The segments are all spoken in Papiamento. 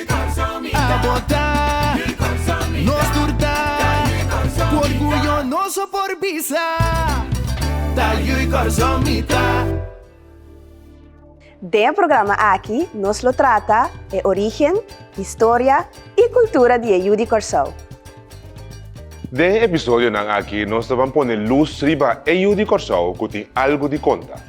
A botá, nos tur ta Ku orguyo nos a por bisa Ta yu i kòrsou mi ta. Den e programa aki nos lo trata e origen, historia i kultura di e yu di Kòrsou. Den e episodionan aki nos ta ban pone lus riba e yu di Kòrsou ku tin algu di konta.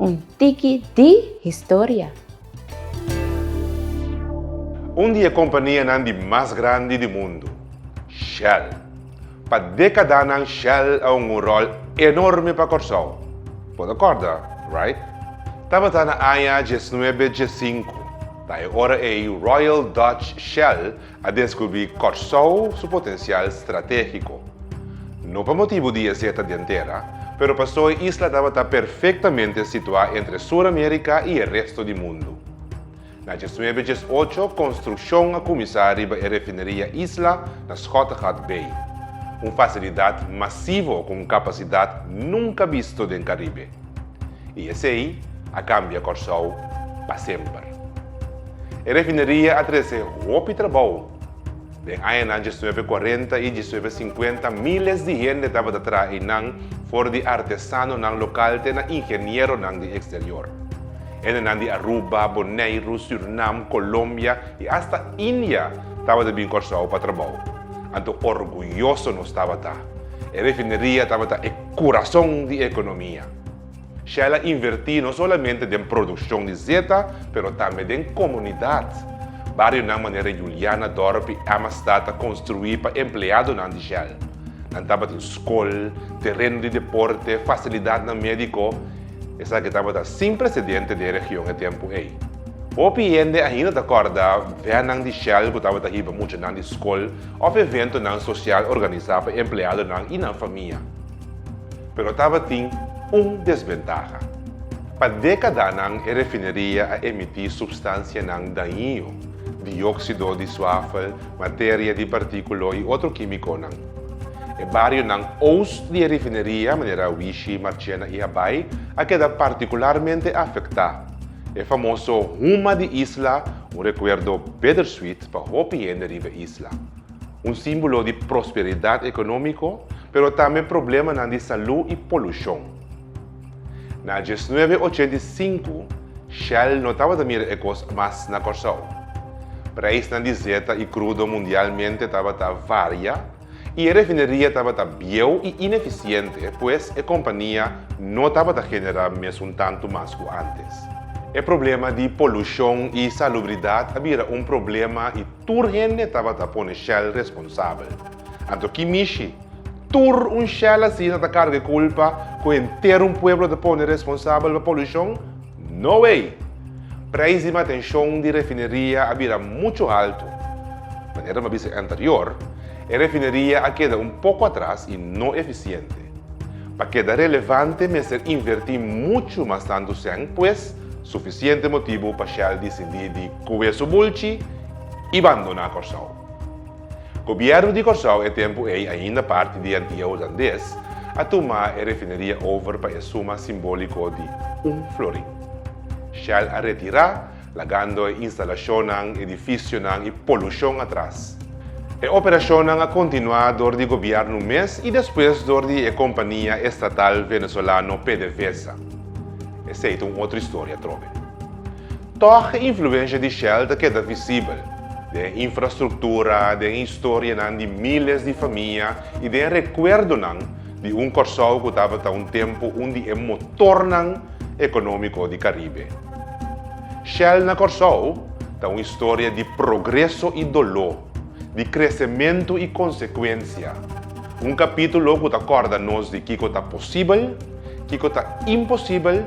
Un tiki di historia. Un di e kompanianan di mas grandi di mundu, Shell. Pa dekadanan Shell a un un ròl enorme pa Kòrsou. Bo ta kòrda, right? Tabata na aña diesnuebe diesinku, ta e ora ei Royal Dutch Shell a descubri Corsou su potencial strategico. No pa motibu di esei ta den tera, pero paso e isla tabata perfectamente situa entre Sur America y e resto di mundu. Na djes nuebe djes ocho construccion a cuminsa riba e refineria isla na Schottegat Bay, un facilidad masivo cu un capacidad nunca bisto den Caribe. I esei a kambia Kòrsou pa semper. E refineria a trese hopi trabou. Den añanan diesnuebe kuarenta i diesnuebe sinkuenta míles di hende tabata traha einan, for di artesanonan lokal te na ingenieronan di eksterior. Hendenan di Aruba, Boneiru, Sürnam, Kolombia i asta India tabata bin Kòrsou pa trabou. Anto orguyoso nos tabata! E refineria tabata e. Kurason di ekonomia. Shell a invertí no solamente den produkshon di zeta pero tambe den komunidat. Barionan manera Juliana, Dorp i Emmastad ta konstruí pa empleadonan di Shell. Nan tabatin skol, tereno di deporte, fasilidatnan médiko. Esaki tabata sin presedente den region e tempu ei. Hopi hende ainda ta kòrda vènnan di Shell ku tabata hiba muchanan di skol. òf eventonan sosial organisá pa empleadonan i nan famia. Pero tabatin un desbentaha. Pa dékadanan e refineria a emití supstansianan dañio, dióksido di suafel, materia di partíkulo i otro kímikonan. E barionan oust di e refineria, manera Wishi, Marchena i Habai, a keda partikularmente afektá. E famoso huma di isla, un rekuerdo bittersweet, Pa hopi hende riba isla, un símbolo di prosperidat ekonómiko, pero tambe problemanan di salú i polushon. Na diesnuebe ochenta i sinku, Shell no tabata mira e kos mas na Kòrsou. Preisnan di zeta i krudo mundialmente tabata varia, i e refineria tabata bieu i inefisiente, pues e kompania no tabata generá mes un tantu mas ku antes. E problema di polushon i salubridat a bira un problema i tur hende tabata pone Shell responsabel. Anto ki mishi? Tur un Shell asina ta karga e kulpa ku henter un pueblo ta pone responsabel pa polushon? No way! Prijs di matenshon di refineria a bira muchu haltu. Manera mi a bisa anterior, e refineria a keda un poko atras i no efisiente. Pa keda relevante mester invertí muchu mas tantu sèn, pues sufisiente motibu pa Shell disindí di kué su bulchi i bandoná Kòrsou. Gobierno di Kòrsou e tempu ei ainda parti di Antia Hulandes a tuma e refineria over pa e suma simbóliko di un florin. Shell a retirá, lagando e instalashonnan, edifisionan i polushon atras. E operashonnan a kontinuá dor di Gobierno mes i despues dor di e kompania estatal venezolano PDVSA. Esei ta un otro historia atrobe. Tòg e influensha di Shell ta keda visibel den infrastruktura, den historianan di míles di famia i den rekuerdonan di un Kòrsou ku tabata un tempu un di e motornan ekonómiko di Karibe. Shell na Kòrsou ta un historia di progreso i doló, di kresementu i konsekuensia, un kapítulo ku ta kòrda nos di kiko ta posibel, kiko ta imposibel,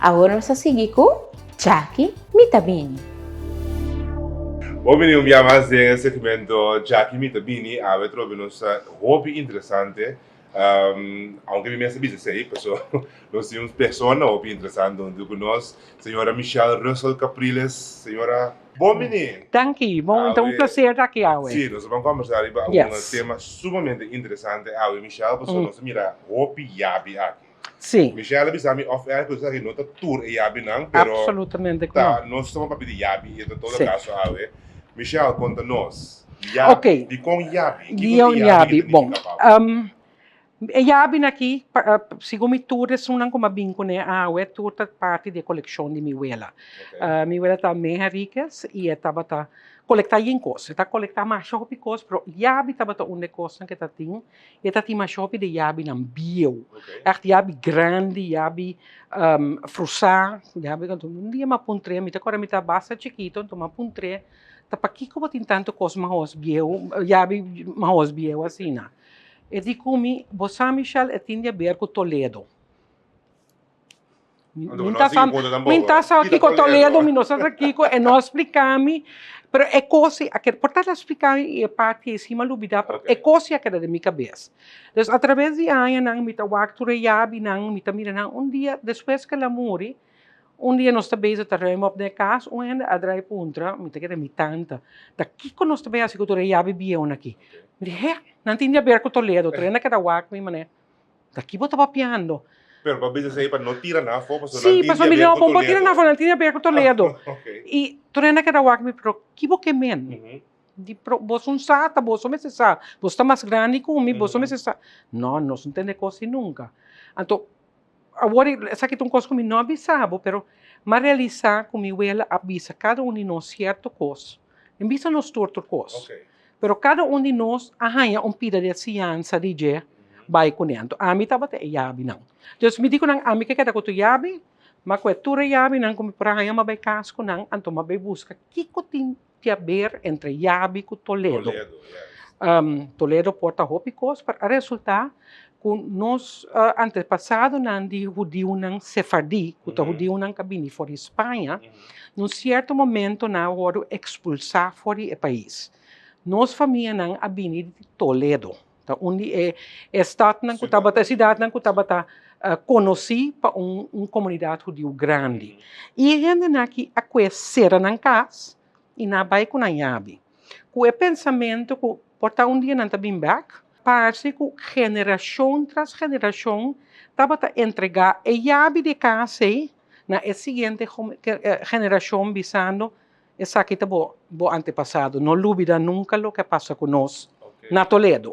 Awor nos a sigui cu Jackie Mi Ta Bini. Bo bini un bia mas den e segmento Jackie Mi Ta Bini. Awe tro be nos ta hopi interesante, aunke mi mes a bisa esey, paso nos tin un persona hopi interesante huntu cu nos, señora Michelle Russell Capriles. Señora, bon bini. Danki, bon e ta un placer ta aki awe. Si, nos a ban combersa ariba un tema sumamente interesante awe Michelle, paso nos a mira hopi yabi aki. Sí. Michelle a bisa mi off air cu esaki no ta tur e yabinan, pero. Absolutamente cu no. Ta, nos toma papia di yabi y ta todo si. caso awe. Michelle, conta nos. Ya, Ok. dicon yabi? Kico ta e yabi ta nifica Bon, pa bo? um, e yabin aki, pa, uh, segun mi tur e esunnan cu mi a bin cu ne awe, tur ta parti di e coleccion di mi wela. Ok. Uh, mi wela ta May Henriquez y e tabata colecta yin cos. E ta colecta masha hopi cos, pero yabi tabata un de e cosnan cu e ta tin. E ta tin mashopi di yabinan bieu, ègt yabi grandi, yabi frusá, yabi ku un dia mi a puntr'é, mi ta kòrda mi ta basta chikitu anto mi a puntr'é, ta pakiko bo tin tantu kos mahos bieu, yabi mahos bieu asina? E di ku mi, bo sa Michelle, e tin di haber ku Toledo. Min ta sa min ta sa kiko Toledo mi no sa sa kiko e no a splika mi pero e kosi a keda por tabata a splika mi i e parti ei si mi a lubida pero e kosi a keda den mi kabes dus a traves di añanan mi ta wak tur e yabinan mi ta mira nan un dia despues ke el a muri un dia nos ta beza ta rui mop den e kas un hende a drai puntra mi ta keda mi tanta ta kiko nos ta bay hasi ku tur e yabi bieunan aki mi di he nan tin di haber ku Toledo tur hende a keda wak mi manera Na ki bo ta papiando? Pero bo a bisa esei pa no tira nan afó pasobra nan tin diabia ku Toledo. Sí, pasobra mi diabia bon bo tira nan afó, nan tin diabia ku Toledo. I Toledo na keda wak mi, pero ki bo ke men? Di pero boso un sa ta boso mester sa, boso ta mas grandi ku mi, boso mester sa. No, nos no tende kos ei nunka. Anto. Awor esaki ta un kos ku mi no a bisa bo, pero mi a realisá ku mi wela a bisa kada un di nos sierto kos, den bista nos tur tur kos. Pero kada un di nos a haña un pida di e siñansa di dje bai ku nèntu. Ami tabata e yabinan. Entonces mi di ku nan, ami ke keda ku tur yabi, mi a kohe tur e yabinan ku mi por a haña, mi a bai kas ku nan, anto mi a bai buska kiko tin Piaber entre Yabi ku Toledo. Toledo por ta hopi kos pa resulta ku nos antepasadonan di hudiunan sefardí ku ta hudiunan ku a bini for di Spaña na un sierto momento nan a wòrdu ekspulsá for di e pais. Nos famianan a bini di Toledo. Ta un di e e stadnan ku tabata, e sidatnan ku tabata konosí pa un un komunidat hudiu grandi. I e hendenan aki a kue sera nan kas i nan a bai ku nan yabi, ku e pensamentu ku por ta un dia nan ta bin bèk. Parse ku generashon tras generashon tabata entregá e yabi di e kas ei na e siguiente generashon bisando, Esaki ta bo bo antepasado. No lubida nunka loke a pasa ku nos na Toledo.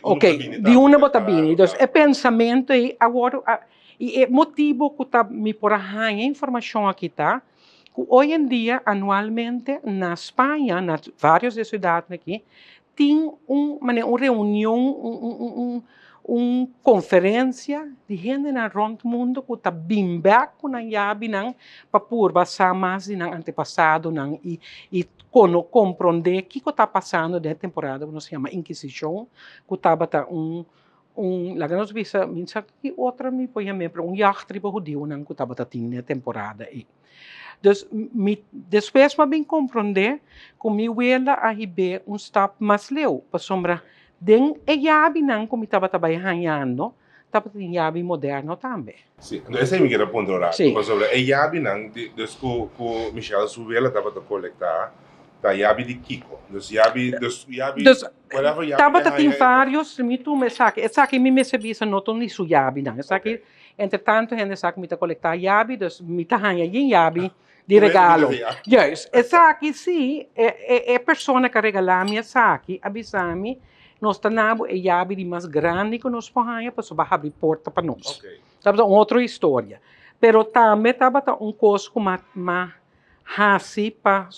Ok, di unda bo ta bini. Dus e pensamentu ei a wòrdu a. I e motibu ku ta mi por a haña informashon aki ta ku oyendia anualmente na Spaña, na vários di e siudatnan aki, Tin un mane un reunion un conferencia di hendenan rond mundo cu ta bin bek cu nan yabinan pa purba sa mas di nan antepasadonan y cono compronde kico ta pasando den e temporada cu nos a yama inquisicion cu tabata un laga nos bisa mi insa ki otro mi por yam'e pero un yacht riba hudionan cu tabata tin den e temporada ey. Dus, mi despues m'a bin komprondé ku mi wela a hib'é un stap mas leu, pasobra den e yabinan ku mi tabata bai hañando tabata tin yabi moderno tambe. Sí, anto esei mi kie ta puntra ora aki, pasobra e yabinan di, dus ku ku Michelle su wela tabata kolektá, ta yabi di kiko? Dus yabi, dus yabi, whatever yabi ke haña. Dus tabata tin varios, mi tuma esaki, esaki mi mester bisa no ta un di su yabinan, esaki. Entre tanto hende sa ku mi ta kolektá yabi, dus mi ta haña yin yabi di regalo. Juist. Esaki si, e persona ku a regalá mi esaki a bisa mi, nos ta na bo e yabi di mas grandi ku nos por haña pasobra bo a habri porta pa nos. Tabata un otro historia. Pero tambe tabata un kos ku mi a hasi pa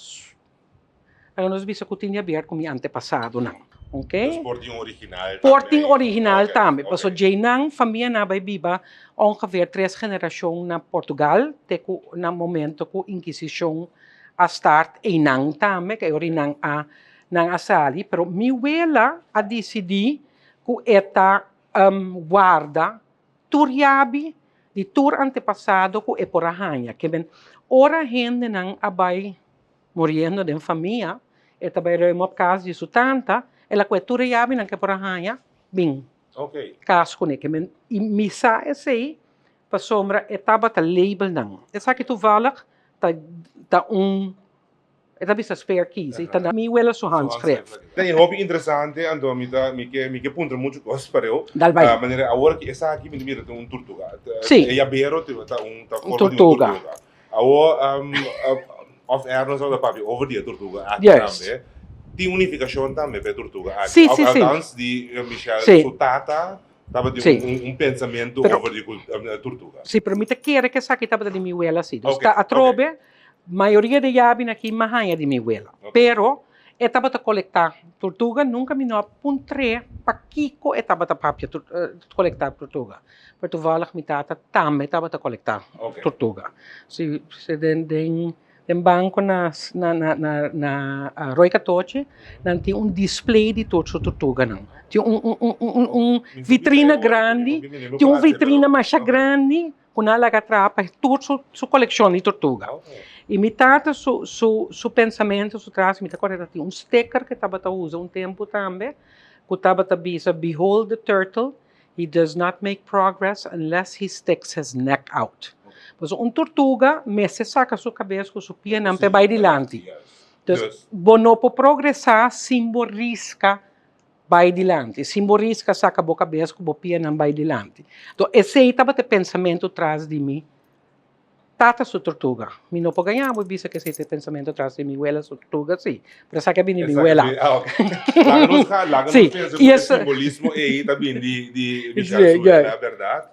Anos bisa ku tin di abièrt ku mi antepasadonan. Oke. Nos por tin un original tambe. Por tin original tambe. Paso djeinan famianan a bai biba ongeveer tres generashon na Portugal te ku na momento ku Inkisishon a start einan tambe ke ora einan a nan a sali. Pero mi wela a disidí ku e ta warda Tur yabi di tur antepasado ku e por a haña. Ke men, ora hendenan a bai muriendo den famia, e ta bai ruim op kas di su tanta, el a ku'e tur e yabinan ku e por a haña bin kas kuné. Ke men, i mi sa esei pasobra e tabata label nan. Esaki toevallig ta un. E ta bisa spare keys, e ta da. Mi wela su hand skref. Ta e hopi interesante, anto mi ta mi ke mi ke puntra muchu kos pareu. Dal bai. Manera awor ki esaki mi ta mira ta un turtuga. Si. E yabero ta ta un ta forma di un turtuga. Un turtuga. Awor off air nos a habla papia over di e turtuga aki tambe. Yes. Tin un nifikashon tambe pa e turtuga aki. Si si si. Alkans di Michelle. Si. Su tata tabata. Si. Un un pensamentu over di kul turtuga. Si pero mi ta kere ke esaki tabata di mi wela si. Ok ok. Dus ta atrobe. Mayoria di yabi aki mi a haña di mi wela. Pero e tabata kolektá tortuga. Nunka mi no a puntr'é pakiko e tabata papia kolektá tortuga. Pero tuvàlig mi tata tambe tabata kolektá tortuga. Den banko na Roi Katochi nan tin un display di tur su tortuganan. Tin un vitrina grandi, tin un vitrina masha grandi Cu nan a laga trapa e tur su coleccion di tortuga. Y mi tata su pensamento su trazo mi ta acorda ta tin un sticker cu tabata usa un tempo tambe cu tabata bisa behold the turtle he does not make progress unless he sticks his neck out. Pues un tortuga mester saca su cabes cu su pienan pa e bay dilanti. Bo no por progresa sin bo risca. Bai dilanti, sin bo riska saka bo kabes ku bo pianan bai dilanti. To esei tabata e pensamentu tras di mi tata su tortuga. Mi no por gañá bo i bisa ku esei ta e pensamentu tras di mi wela su tortuga, si, pero esaki a bini di mi wela.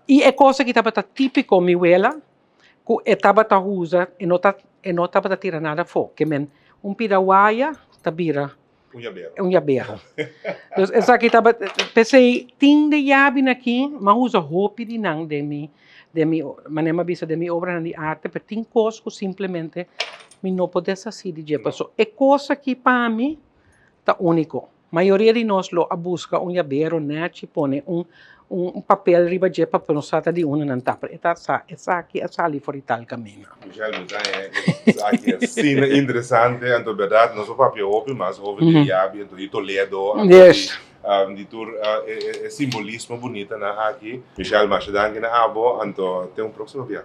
I e kos aki tabata típiko mi wela ku e tabata usa, e no tabata tira nada afó, ke men un pida waya ta bira. Un yaberho. Un yaberho. Dos esaki taba, p'esei tin de yabi na ki, m'a usa hopi di nan den mi, den mi, manera m'a bisa den mi obranan di arte, pero tin kos ku simplemente mi no por deshasí di dje, paso e kos aki pa mi ta úniko. Mayoria di nos lo a buska un yaberho, nachi, pone un. Un papel riba dje pa nos trata di uno nan ta pero e ta sa esaki a sali for di tal camino. Michelle Muzaña esaki asina interesante anto berdad nos a papia hopi mas over di Diabi anto di Toledo anto di tur e simbolismo bunitanan aki. Michelle masha danki na abo anto ten un proximo biaha.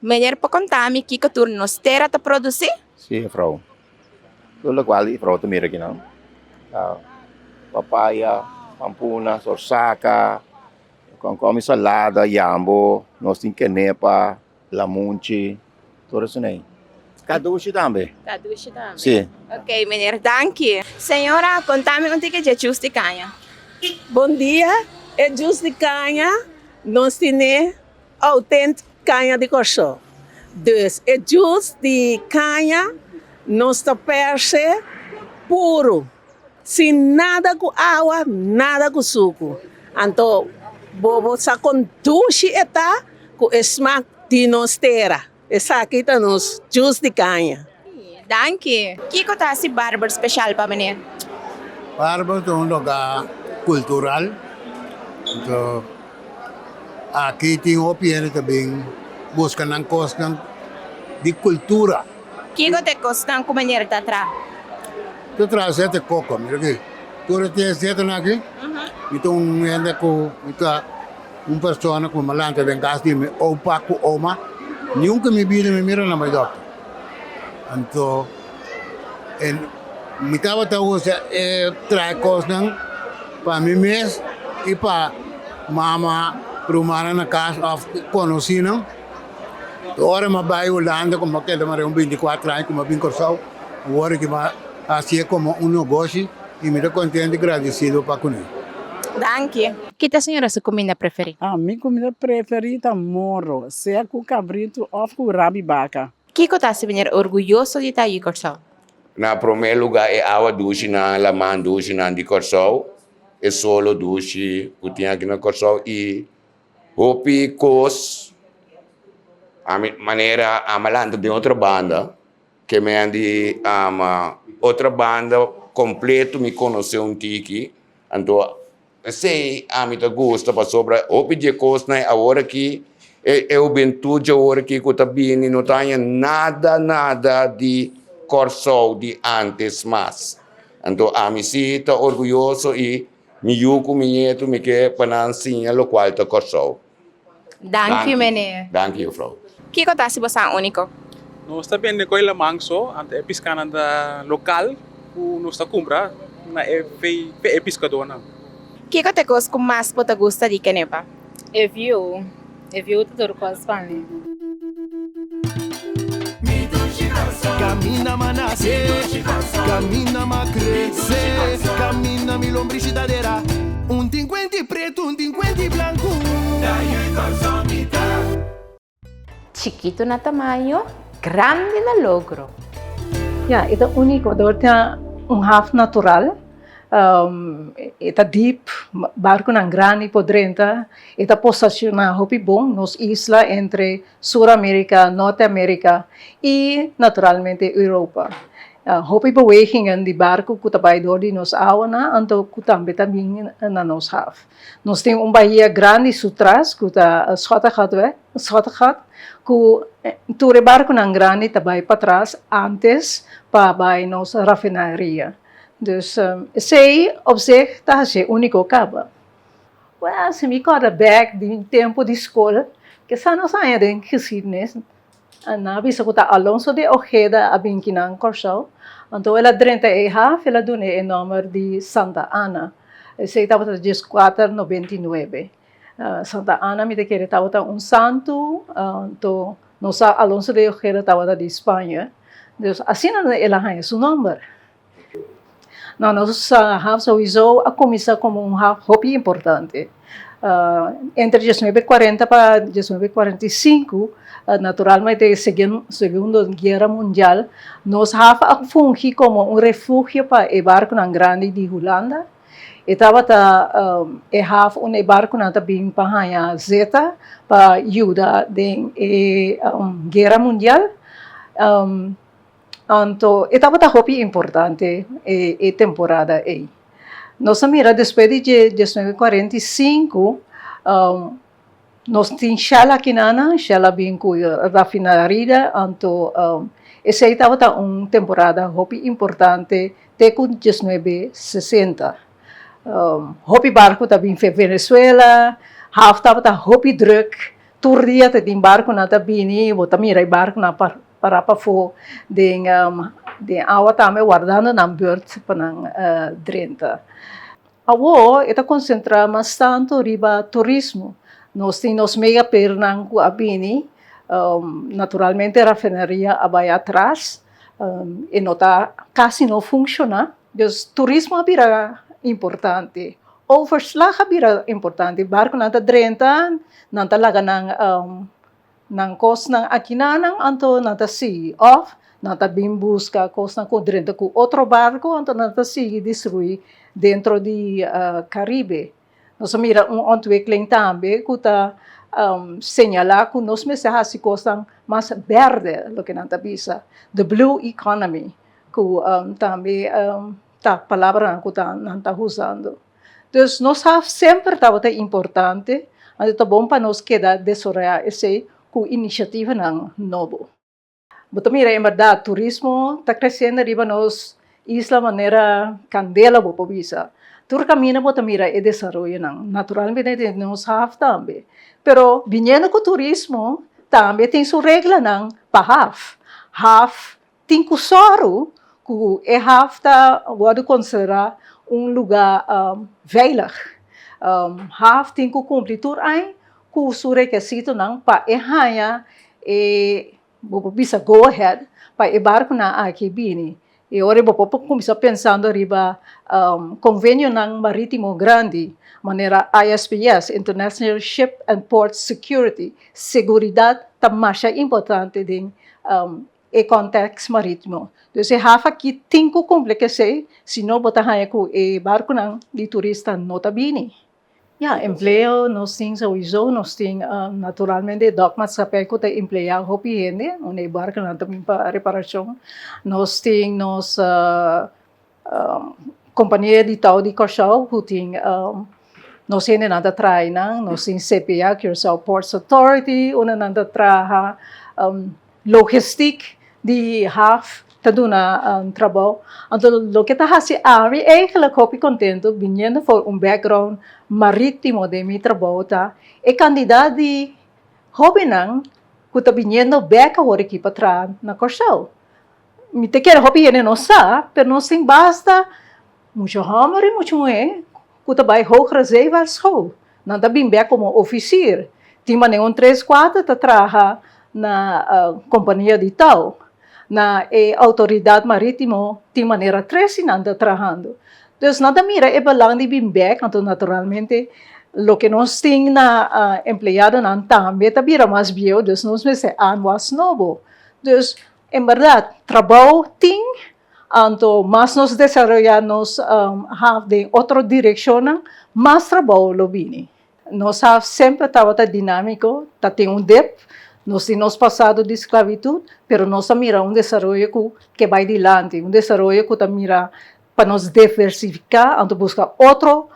Meneer por conta mi kico tur nos tera ta produci? Si juffrouw. Tur locual di juffrouw ta mira aki nan ta papaya, pampuna, zorzaca, con con mi salada, yambo, nos tin kenepa, lamunchi, tur esuney. Cadushi tambe. Cadushi tambe. Si. Ok meneer danki. Señora conta mi un tiki dje jus di caña. Bon dia, e jus di caña nos tine. Outent Caña di Corsó. Dus e jus di caña nos ta perse puru, sin nada cu awa, nada cu sucu. Anto bobo sa con dushi e ta cu e smaak di nos tera. Esaki ta nos jus di caña. Danki. Kico ta haci Barber special pa meneer? Barber ta un loga cultural. Anto aki tin hopi hende ta bin busca nan cosnan di cultura. Kico ta e cosnan cu meneer ta tra? Ta traha siete coco. Mira aki. Tur e tin e siete nan aki mi ta un hende cu mi ta. Un persona ku malanta den kas di mi opa ku oma, nunka mi bida mi mira na bai dòkter. Anto e mi tabata usa e traha kosnan pa mi mes i pa mama, rumannan na kas òf konosinan. E ora mi a bai Hulanda ku mi a keda mareha un binti kuatro aña ku mi a bin Kòrsou, mi wòrdu ku mi a hasié komo un nogoshi. Y mi ta contento y gradecido pa cune. Danki. Ki ta señora su cuminda preferi? Ah, mi cuminda preferi ta morro, sea cu cabrito of cu rabi baca. Kico ta haci manera orguyoso di ta di Corsou? Na prome luga e awa ducinan, laman ducinan di Corsou, e solo duci cu tin aki na Corsou y hopi cos, ami manera ama lanta den otro banda. Ke mi a di ama otra banda kompleto mi konosé un tiki anto esei ami ta gusta pasobra hopi di e kosnan e awor aki e e hubentud di awor aki ku ta bini no ta haña nada nada di Kòrsou di ántes mas anto ami si ta orguyoso i mi yu ku mi nietu mi ke pa nan siña lokual ta Kòrsou. Danki, meneer. Danki, jufrouw. Kiko ta si bo sa úniko? Nos ta bende ku e laman so, anto e piskanan ta lokal ku nos ta kumpra na e fe'e piskadónan. Kiko ta e kos ku mas bo ta gusta di kenepa? E viu. E viu ta tur kos pa mi. Chikitu na tamaño, grandi na logro! Ya, e ta úniko, dor ta un haf natural, e ta dip, barkunan grandi por drenta. E ta posesiona hopi bon nos isla entre Sur America, Norte America y naturalmente Europa. Hopi bewegingan di barco cu ta bay door di nos awanan anto cu tambe ta bin na nos haf. Nos tin un bahia grandi sutras cu ta Schottegat cu tur e barconan grandi ta bay patras antes pa bay nos rafinaria. Dus esey op zich ta haci unico caba. Well, si mi kòrda bèk di mi tempu di skol, kisa nos a haña den geskidnis? Nan a bisa ku ta Alonso de Ojeda a bin kinan Kòrsou. Anto el a drenta e haf, el a dun'é e nòmber di Santa Ana. Esei tabata djes kuater nobenta i nuebe. Santa Ana mi ta kere tabata un santu, anto nos sa Alonso de Ojeda tabata di Spaña. Asina el a haña su nòmber. No, nos haf souiso a kuminsá komo un haf hopi importante. Entre diesnuebe kuarenta pa diesnuebe kuarenta i sinku, naturalmente segundo guera mundial, nos haf a fungi komo un refugio pa e barkunan grandi di Hulanda. E tabata e haf unda e barkunan ta bin pa haña zeta pa yuda den e guera mundial. Anto e tabata hopi importante e temporada ei. Nos a mira despues di dje diesnuebe kuarenta i sinku nos tin shell akinanan, shell a bin ku rafinarida, anto esei tabata un temporada hopi importante te ku diesnuebe sesenta. Hopi barku ta bin Venezuela, haf tabata hopi drùk, tur dia ta tin barkunan ta bini, bo ta mira e barkunan Pa rap afó den den awa tambe wardando nan beurt pa nan drenta. Awó e ta konsentrá mas tantu riba turismo. Nos tin nos mega pernan ku a bini, naturalmente rafinaria a bai atras, e no ta kasi no funshoná, dus turismo a bira importante, overslag a bira importante, barkunan ta drenta, nan ta laga nan Nan kosnan akinan nan anto nan ta sigui òf nan ta bin buska kosnan ku drenta ku otro barku anto nan ta sigui destruí dentro di Karibe. Nos a mira un ontwikkeling tambe ku ta señalá ku nos mester hasi kosnan mas bèrdè, loke nan ta bisa the blue economy ku tambe ta palabranan ku nan ta usando. Dus nos a semper tabata importante, anto ta bon pa nos keda desoreá esei ku inisiativanan nobo. Bo ta mira, en bèrdat, turismo ta kresiendo riba nos isla manera kandela, bo por bisa. Tur kaminda bo ta mira e desaroyonan, naturalmente den nos haf tambe. Pero biniendo ku turismo tambe tin su reglanan pa haf. Haf Tin ku sòru ku e haf ta wòrdu konsiderá un lugá veilig. Haf tin ku kumpli tur ein ku su rekesitonan pa e haña e, bo por bisa go ahead, pa e barkunan aki bini. I ora bo por kuminsá pensando riba konvenionan marítimo grandi, manera ISPS, International Ship and Port Security, seguridat ta masha importante den. e kòntèks marítimo. Dus e haf akí tin ku kumple k'esei, si no bo ta haña ku e barkunan di turista no ta bini. Ya, empleo nos tin souizou, nos tin naturalmente e dòk maskapei ku ta empleá hopi hende, unda e barkunan ta bin pa reparashon. Nos tin nos. Kompania di Tau di Kòrsou ku tin nos hende nan ta traha nan, nos tin CPA, Curaçao Ports Authority, unda nan ta traha logistik di haf ta duna trabou. Anto loke ta hasi ami eigelik hopi kontentu biniendo for un background marítimo den mi trabou ta e kandidat di hóbennan ku ta biniendo bèk awor aki pa traha na Kòrsou. Mi ta kere hopi hende nos sa, pero nos tin basta mucha hòmber i mucha muhé ku ta bai Hogere Zeevaart School. Nan ta bin bèk komo ofisier. Tin manera un tres, kuater ta traha na kompania di tau. Na e Outoridat Marítimo tin manera tresi nan ta trahando. Dus nan ta mira e balang di bin bèk, anto naturalmente loke nos tin na empleadonan tambe ta bira mas bieu, dus nos mester anwas nobo. Dus. En berdad, trabao tin, anto mas nos desaroyá nos haf den otro direkshonnan, mas trabao lo bini. Nos haf semper tabata dinámiko, ta tin un dep, nos tin nos pasado di sklabitut, pero nos ta mira un desaroyo ku ke bai dilanti, un desaroyo ku ta mira pa nos deversifiká anto buska otro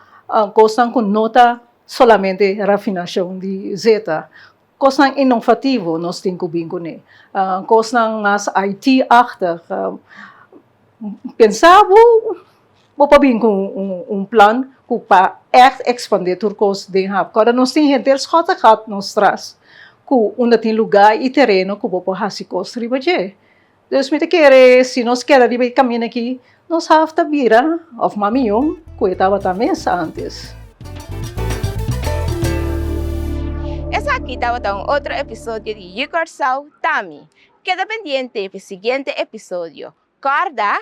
kosnan ku no ta solamente rafinashon di zeta. Kosnan inovativo nos tin ku bin kuné. Kosnan mas IT achtig. Pensa bo bo pa bin ku un plan ku pa ègt ekspandé tur kos den hab. Kòrda nos tin henter schòtte gat nos tras ku unda tin lugá i tereno ku bo por hasi kos riba dje. Dus mi ta kere si nos keda riba e kaminda aki, nos haf ta bira òf mas mihó ku e tabata mes ántes. Esaki tabata un otro episodio di Yu Kòrsou Ta Mi. Keda pendiente pi siguiente episodio. Kòrda,